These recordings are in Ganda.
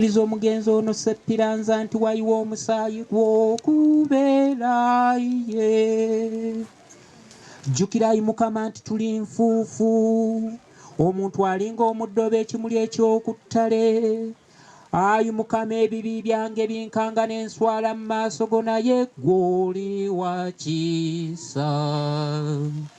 Okukkiriza omugenzi ono Ssepiranza nti wayiwa omusaayi gw'okubeera ye. Jjukira ayi Mukama nti tuli nfuufu. Omuntu alinga omuddo oba ekimuli eky'okuttale. Ayi Mukama ebibi byange binkanga n'enswala mu maaso go naye gw'oli wa kisa.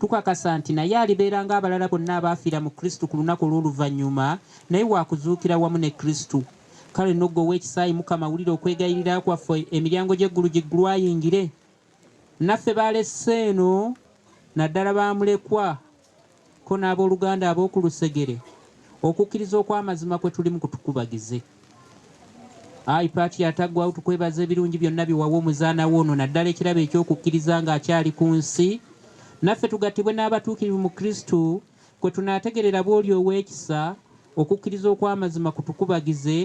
Tukakasa nti naye alibeera ng'abalala bonna abaafiira mu Kristo ku lunaku olw'oluvannyuma, naye wa kuzuukira wamu ne Kristo. Kale nno ggwe ow'ekisa, ayi Mukama, wulira okwegayirira kwaffe, emiryango gy'eggulu giggulwe ayingire. Naffe b'alesse eno, naddala ba mulekwa, ko n'ab'oluganda ab'oku lusegere, okukkiriza okw'amazima kwe tulimu kutukubagize. Ayi Patient Ataggwaawo tukwebaza ebirungi byonna bye wawa Omuzaana wo ono naddala ekirabo eky'okukkiriza ng'akyali ku nsi. Naffe tugattibwe n'abatuukirivu mu Kristo kwe tunaategerera bw'oli ow'ekisa, okukkiriza okw'amazima kutukubagize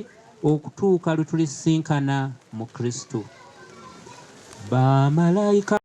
okutuuka lwe tulisisinkana mu Kristo. Bamalaika.